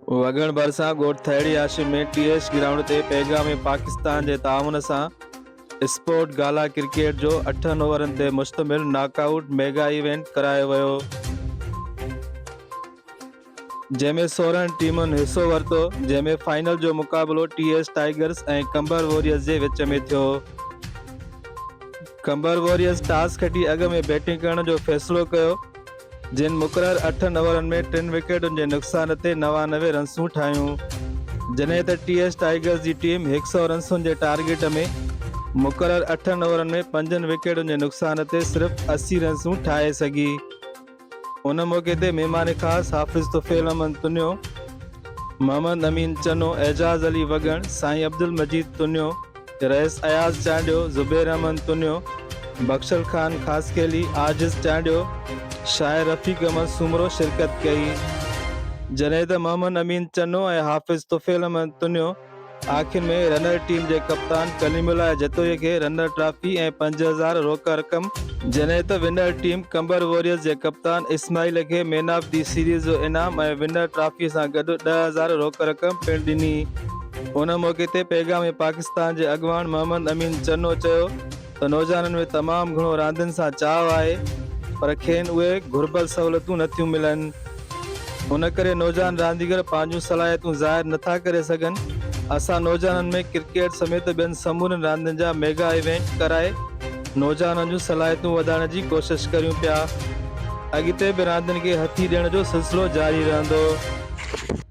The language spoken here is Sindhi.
وڳڻ ڀرسان ڳوٺ Thehri Hashim ۾ T H ground تي پيغام پاڪستان جي تعاون سان اسپورٽ گالا ڪرڪيٽ جو اٺن اوورن تي مشتمل ناڪ آئوٽ ميگا ايونٽ ڪرايو ويو جنهن ۾ سورهن ٽيمن حصو ورتو جنهن ۾ فائنل جو مقابلو T H Tigers ۽ Kamber Warriors جي وچ ۾ ٿيو ڪمبر واريئرز ٽاس کٽي اڳ ۾ بيٽنگ ڪرڻ جو فيصلو ڪيو جن مقرر اٺن اوورن ۾ ٽن وڪيٽن جي نقصان تي نوانوي رنسون ٺاهيون جنهن تي ٽي ايس ٽائيگرز جي ٽيم هڪ سؤ رنسن جي ٽارگيٽ ۾ مقرر اٺن اوورن ۾ پنجن وڪيٽن جي نقصان تي صرف اسي رنسون ٺاهي سگهي ان موقعي تي مهمان خاص حافظ طفيل احمد تنيو محمد امين چنو اعجاز علي وڳڻ سائين عبدالمجيد تنيو رئيس اياز چانڊيو، زبير احمد تنيو، بخشل خان خاصخيلي، عاجز چانڊيو، شاعر رفيق احمد سومرو شرڪت ڪئي، جڏهن ته محمد امين چنو ۽ حافظ طفيل احمد تنيو آخر ۾ رنر ٽيم جي ڪپتان ڪليم الله جتوئي کي رنر ٽرافي ۽ پنج هزار روڪ رقم، جڏهن ته ونر ٽيم قمبر واريئرز جي ڪپتان اسماعيل کي مين آف دي سيريز جو انعام ۽ ونر ٽرافي سان گڏ ڏهه هزار روڪ رقم پڻ ڏني. ان موقعي تي پيغام پاڪستان جي اڳواڻ محمد امين چنو چيو ته نوجوانن ۾ تمام گهڻو راندين سان چاهه آهي پر کين اهي گهربل سهولتون نٿيون ملن ان ڪري نوجوان رانديگر پنهنجون صلاحيتون ظاهر نٿا ڪري سگهن اسان نوجوانن ۾ ڪرڪيٽ سميت ٻين سمورين راندين جا ميگا ايونٽ ڪرائي نوجوانن جون صلاحيتون وڌائڻ جي ڪوشش ڪريون پيا اڳتي به راندين کي هٿي ڏيڻ جو سلسلو جاري رهندو